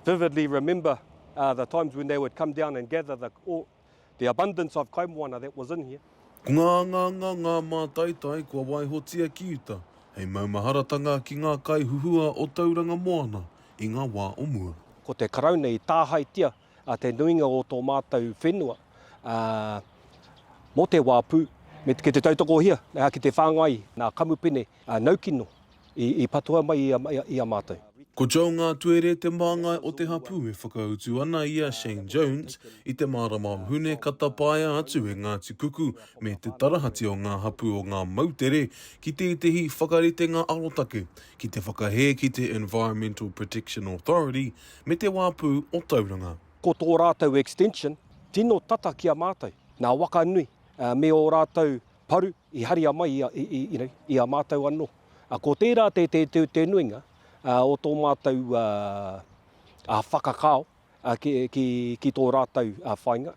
vividly remember the times when they would come down and gather the all the abundance of kaimoana that was in here. Ko ngā angaanga ngā mātaitai kua waihotia ki uta hei maumaharatanga ki ngā kaihuhua o Tauranga Moana i ngā wā o mua. Ko te Karauna i tāhaetia te nuinga o tō mātou whenua mō te wā pū me te tautakohia ki te whāngai nā kamupene A Naukino, i patua mai i a mātou. Ko Joe Ngātuere te māngai o te hapū e whakautu ana i a Shane Jones i te marama o Hune ka tapaea atu e Ngāti Kuku me te tarahati o ngā hapū o ngā moutere ki tētehi whakaritenga arotake ki te whakahē ki te Environmental Protection Authority me te wāpu o Tauranga. Ko tō rātou extension tino tata ki a mātou, nā Wakanui me ō rātou paru i haria mai i a, i, i, you know, i a mātou anō. Uh, ko tērā te, te, te, te nuinga uh, o tō mātou uh, uh, whakakao uh, ki, ki, ki tō rātou uh, whainga.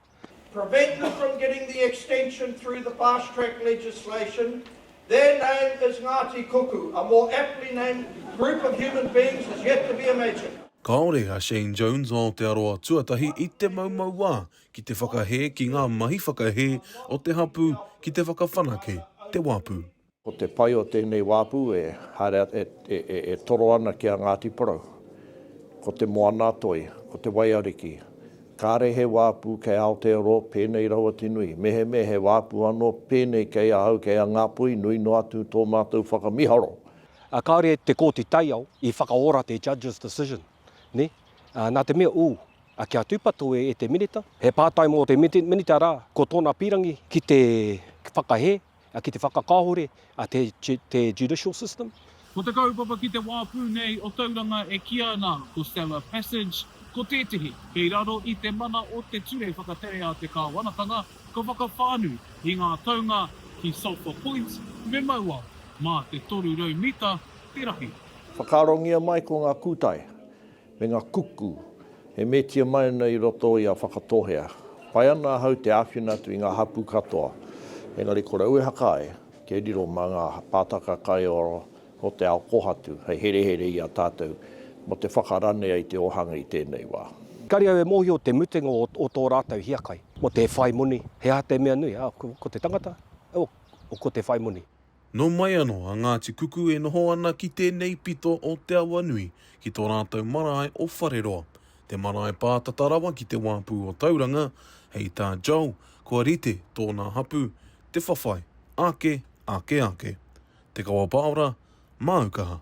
prevent them from getting the extension through the fast track legislation, their name is Ngati Kuku, a more aptly named group of human beings is yet to be imagined. Kāore a Shane Jones o Aotearoa Tuatahi i te maumau wā Ki te whakahē ki ngā mahi whakahē o te hapū ki te whakawhanake te wāpu. Ko te pai o tēnei wāpu e haere e toro ana ki a Ngāti Porou, ko te Moana-a-Toi, ko te Waiariki. Kāre he wāpu kei Aotearoa pēnei rawa te nui, mehemea he wāpu anō pēnei kei ahau, kei a Ngāpuhi, nui noa atu tō mātou whakamiharo. Kāore te Kōti Taiao i whakaora te Judge's Decision, nē? Nā te mea, ū. A kia tūpato e e te Minita. He pātai mō te Minita rā, ko tōna pīrangi ki te whakahē, ki te whakakāhore te judicial system. Ko te kaupapa ki te wā pū nei o Tauranga e kīa ana ko Stella Passage, ko tētehi kei raro i te mana o te Ture Whakatere a te Kāwanatanga ka whakawhānui i ngā taunga ki Sulphur Point me Mauao, mā te 300 mita te rahi. Whakaarongia mai ko ngā kūtai. me ngā kuku e metia mai ana i roto i a Whakatohea. Pai ana ahau te āwhina atu i ngā hapū katoa, engari kore au e haka ai, kia riro mā ngā pātaka kai ora o te ao kōhatu hei herehere i a tātou mō te whakaranea i te ōhanga i tēnei wā. Engari au e mōhio te mutunga o tō rātou hiakai. Mō te whai moni, he aha te mea nui? Ko te tangata, ko te whai moni. Nō mai anō a Ngāti Kuku e noho ana ki tēnei pito o Te Awanui, ki tō rātou marae o Whareroa, te marae pātata rawa ki te wāpu o Tauranga, hei tā Joel, kua rite tōna hapū, te whawhai, ake, ake, ake. Te Kawapaora, māu kaha.